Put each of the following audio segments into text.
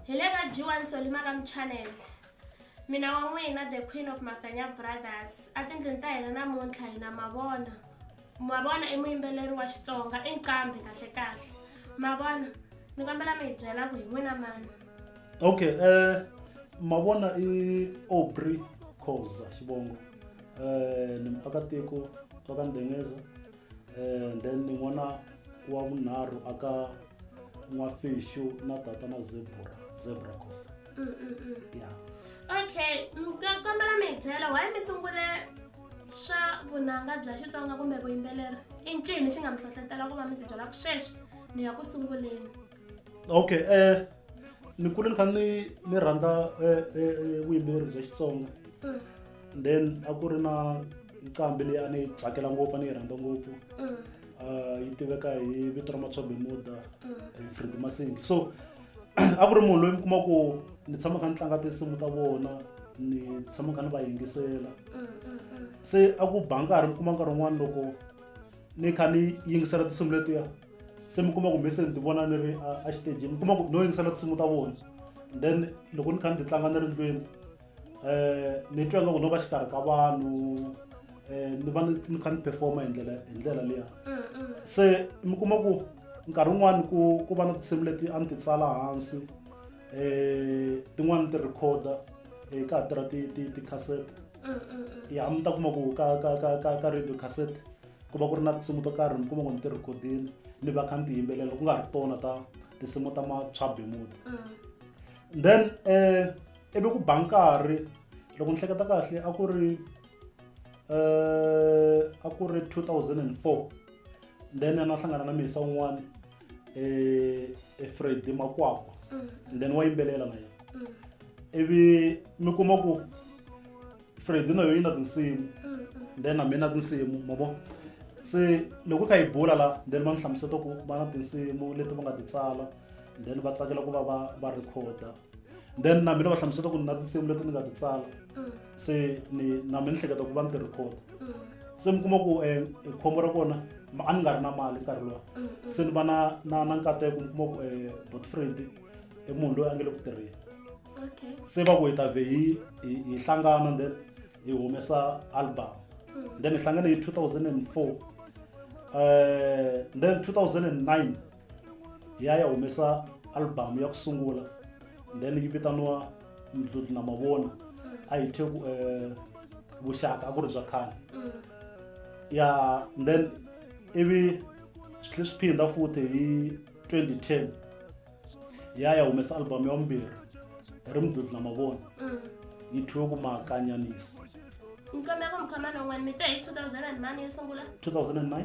Hi le ka G1 Solima Kam Channel. Mina wa n'wina The Queen of Mafenya Brothers. A tindlwini ta hina namuntlha hi na Mavona. Mavona i muyimbeleri wa Xitsonga, i nqambi kahle kahle. Mavona, ni kombela mi hi byela ku hi n'wina mani. Okay, eh Mavona i Aubrey Khoza xivongo. Eh ni muakatiko wa ka Ndengeza. um then ni n'wana wa vunharhu aka n'wafixu na tata na zebra zebra cost mm, mm, mm. ya okay kombela mi hi byela why mi sungule swa vunanga bya xitsonga kumbe vuyimbeleri i ncini xi nga mi hlohlotela ku va mi tibyela ku sweswi ni ya ku sunguleni okay um ni kule ni kha ni ni rhandza eh, eh, eh, vuyimbeleri bya xitsonga mm. then a ku ri na nqambi leyi a ni yi tsakela ngopfu a ni yi rhandza ngopfu mm. ah, yi tiveka hi vito ra matshombe muda mm. fred masingi so a ku ri munhu loyi mi kuma ku ni tshama kha ni tlanga tinsimu ta vona ni tshama kha ni va yingisela se a ku ba nkarhi mi kuma nkarhi wun'wana loko ni kha ni yingisela tinsimu letiya se mi kuma ku mi se ni ti vona ni ri a xiteji mi kuma ku no yingisela tinsimu ta vona then loko ni kha ni ti tlanga ni ri ndlwini um ni twa ingaku no va xikarhi ka vanhu um ni va ni kha ni performa hi ndlela hi ndlela liya mm, mm. se mi kuma ku nkarhi wun'wani ku ku va na tinsimu leti a ni ti tsala hansi um tin'wani ti rhikhoda um ka ha tirha ti-cassette mm, mm, mm. ya mi ta kuma ku ka ka ka ka ka radio cassette ku va ku ri na tinsimu to karhi mi kuma ku ni ti rhikhodini ni va kha ni ti yimbelela ku nga ri tona ta tinsimu ta matswabemuti then um ivi ku ba nkarhi loko ni hleketa kahle a ku ri um a ku ri two thousand and four then a na hlangana na misa un'wana eh, eh, fred makwakwa mm. and then wa yimbelela na yena mm. ivi mi kuma ku fred na yo yi na tinsimu mm, then na mina tinsimu ma vo se loko kha yi bula la then va ni hlamuseta ku va na tinsimu leti va nga ti tsala then va tsakela ku va va va recorda then na mina va hlamusela ku ni na tinsimu leti ni nga ti tsala mm. se ni na mi ni hleketa ku va ni ti record mm. se mi kuma ku um khombo ra kona a ni nga ri na mali nkarhi lowa mm, se ni va na na na nkateko mi kuma ku um botfriend i munhu loyi a nge le ku tirheni se va ku hi ta vhe hi hi hlangana then hi humesa album then hi hlangane hi 2004 um then 2009 ya ya humesa album ya ku sungula then yi vitaniwa mdludlu na mavona a yi thye ku eh, vuxaka a ku ri bya khale Mm. ya then ivi swi tlhe swi phinda futhi hi 2010 ya ya humesa album ya vumbirhi hi ri mdludlu na mavona Mm. yi thyiwe ku makanyanisi Mkhomeko mkhomeko n'wana mi te hi 2000 and mani yo sungula 2009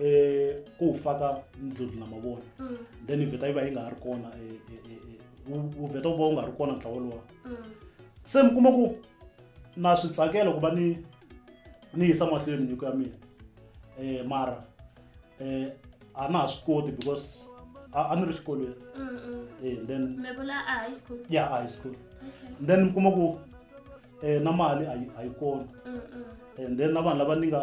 eh ku faka ndludlu na mavona Mm. then yi vheta yi va yi nga ha ri kona eh, eh, eh, eh, wu- wu vheta wu va wu nga ha ri kona ntlawa lowa Mm. se mi kuma ku na swi tsakela ku va ni ni yisa mahlweni nyiko ya mina um mara um a na ha swi koti because a a ni ri xikolweni Mm. Mm. um then Me vula a high school. ya a high school Okay. then mi kuma ku um na mali a yi- a yi kona Mm. Mm. and then na vanhu lava ni nga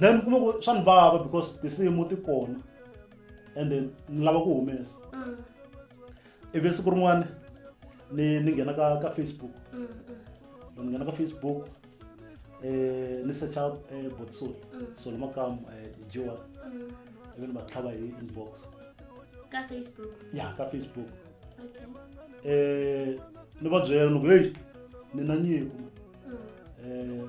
then kuma ku swa ni vava because tinsimu ti kona and then ni lava ku humesa mm. ivi siku rin'wana ni ni nghena ka ka facebook mm, mm. ni nghena ka facebook eh ni search out eh botsol so lama kam eh jiwa ivi ni va tlhava hi inbox ka facebook ya ka facebook okay eh ni va byela ni ku hey ni na nyiko um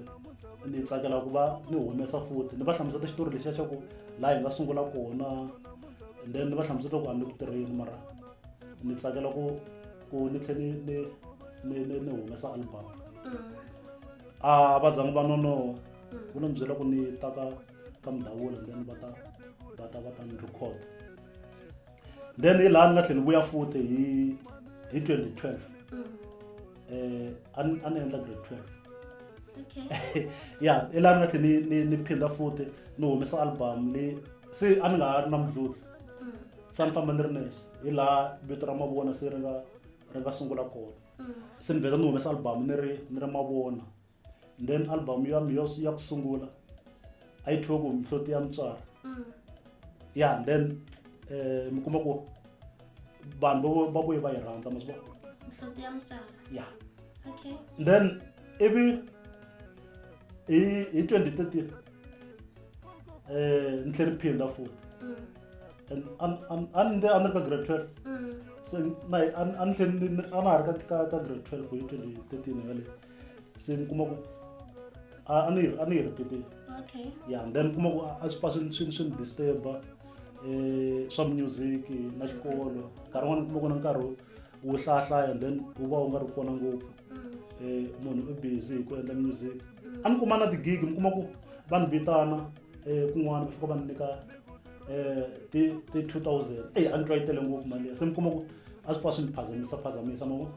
ni tsakela ku va ni humesa futhi ni va hlamuseta xitori lexiya xa ku laha hi nga sungula kona then ni va hlamuseta ku a ni ku tirheni mara ni tsakela ku ku ni tlhe ni ni ni ni ni humesa album mm. a va zangi va nonoha mm. ku ni byela ku ni ta ka ka mudawula then va ta va ta va ta ni record then hi laha ni nga tlhela ni vuya futhi hi hi 2012 eh a ni a ni endla grade 12 Okay. ya hi laha ni nga tlhela ni- ni ni phinda futhi ni humesa album leyi se a ni nga ha ri na mudludla Mm, se a ni famba ni ri nexe hi laha vito ra mavona se ri nga ri nga sungula kona mm, se ni vheta ni humesa album ni ri ni ri mavona and then album ya mi ya ku sungula a yi thiwe ku mihloti ya mutswari mm. ya and then um mi kuma ku vanhu va vuye va yi rhandza ma swi vona ya then ivi hi hi twenty thirteen um ni tlhe ni phinda futi mm. and a ni a ni ri ka grade twelve mm. se na a ni tlhe a na ha ri ka ka grade twelve hi twenty thirteen yaleyo se ni kuma ku a a ni a ni yi repeatile okay ya and then kuma ku a- a swi pfa swi- swi swi ni disturba eh swa music na xikolo nkarhi wun'wana kuma ku na nkarhi wo- wo hlayahlaya and then wu va wu nga ri kona ngopfu eh munhu u busy hi ku endla music a ni kuma na ti-gig mi kuma ku va ni vitana eh kun'wana va fika va ni nyika eh ti ti 2000 eyi a ni twa yi tele ngopfu mali liya se mi kuma ku a swi pfa swi ni phazamisa phazamisa ma vo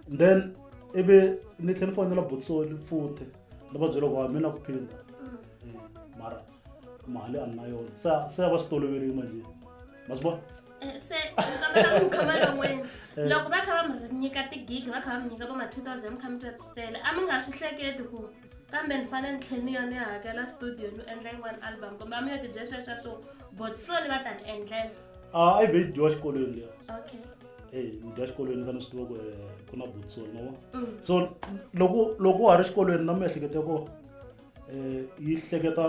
and then ivi ni tlhela ni fonela botsoli futhi ni va byela ku a mi na ku phinda mm. eh, mara mali a ni na yona se se va swi toloverile manje ma swi vona eh, se ku khama longweni eh. loko va kha va mi nyika tigigi va kha va mi nyika va ma 2000 mi kha mi tele a mi nga swi hleketi ku kambe ni fanele ni tlhela ni ya ni ya hakela studio ni endla yin'wana album kumbe a mi yo tibyesweswa swo botsoni va ta ni endlela a ah, i ve yi dyiwa xikolweni leyi okay hey mi dya xikolweni fana swi tiva ku eh, ku na butso no mm. so loko loko wa ha ri xikolweni na miehleketo ya kona um yi hleketa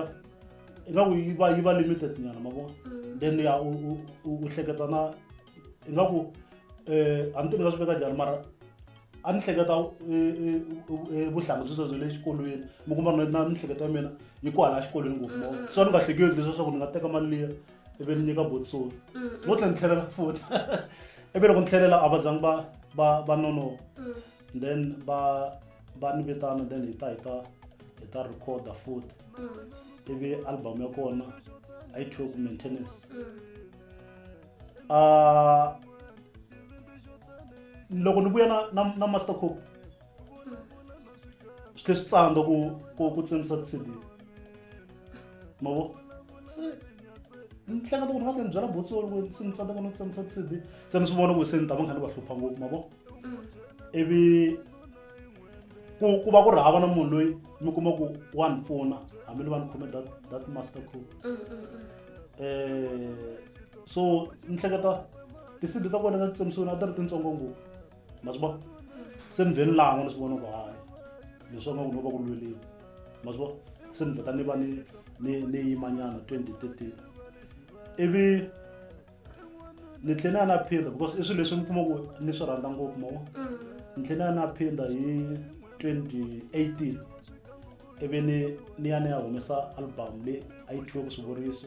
ingaku yi va yi va limited nyana ma vona mm. then ya u hleketa na ingaku um a ni ti ni nga swi veka njhani mara a ni hleketa vuhlanga byi byebyo le xikolweni mi kuma na miehleketo ya mina yi ku hala xikolweni ngopfu mo so ni nga hleketi leswi swa ku ni nga teka mali liya ivi ni nyika botsoni no tlhela ni tlhelela futhi ivi loko ni tlhelela a va zangi va va va nonoka then va va ni vitana then hi ta hi ta hi ta recorda futhi ivi album ya kona a yi thiwe ku maintenance a loko ni vuya na na na master cop swi tlhe swi tsandza ku ku ku tsemisa ti-cd ma vo se ni hleketa ku ni nga tlhe ni byela botsolo ku se ni tsandza ku ni tsemisa ti-cd se ni swi vona ku se ni ta va nga ni va hlupha ngopfu ma vo ivi ku ku va ku ri hava na munhu loyi mi kuma ku wa ni pfuna hambi ni va ni khome that that master crew um so ni hleketa ti-cd ta kona ta titsemisiwini a ti ri tintsongo ngopfu ma swi vona se ni vhe ni langwa ni swi vona ku hayi leswi nga ku no va ku lweleni ma swi vona se ni vheta ni va ni ni ni yimanyana 2013 ivi ni tlhela ni ya na phinda because i swilo leswi mi kuma ku ni swi rhandza ngopfu ma vona Mm. ni tlhela ni ya na phinda hi 2018 ivi ni ni ya ni ya humesa album leyi a yi thyiwe ku swivuriso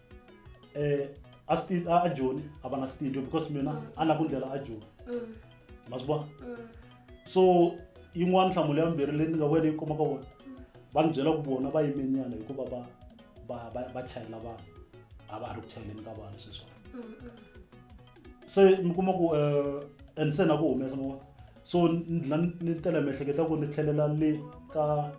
eh a sti a Joni a va na studio because mina mm. a na ku ndlela a Joni mm. ma swi vona mm. so yin'wana nhlamulo ya mbirhi leyi ni nga wena yi kuma ka vona va ni byela ku vona va yimenyana hikuva va va va va chayela vanhu a va ha ri ku chayeleni ka vanhu sweswo se mi kuma ku um and se na ku humesa ma so ni dlina ni tela miehleketo ya ku ni tlhelela le ka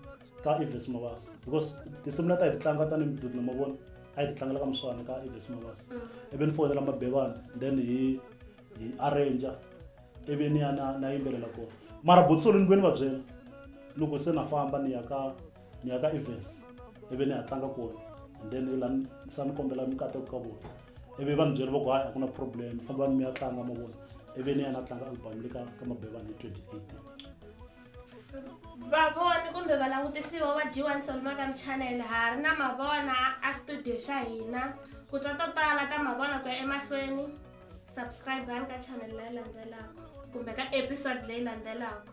ka evis mavas because tinsimu leti a hi ti tlanga tanihi mududi na mavona a hi ti tlangela ka muswana ka evis mavas mm. ivi ni foyinela mabevana then hi hi arranger ivi ni ya na na yimbelela kona mara botsolo ni vuye ni va byela loko se na famba ni ya ka ni ya ka evens ivi ni ya tlanga kona and then la sa ni kombela mikateko ka vona ivi va ni byela va ku hayi a ku na problem fambani mi ya tlanga mavona ivi ni ya na tlanga album le ka ka mabevana hi 2018 vavoni kumbe valangutisiwa va g1 solmagam channel ha ri na mavona a studio xa hina ku twa to tala ta mavona ku ya emahlweni subscribe ani ka channel leyi landzelaka kumbe ka episode leyi landzelaka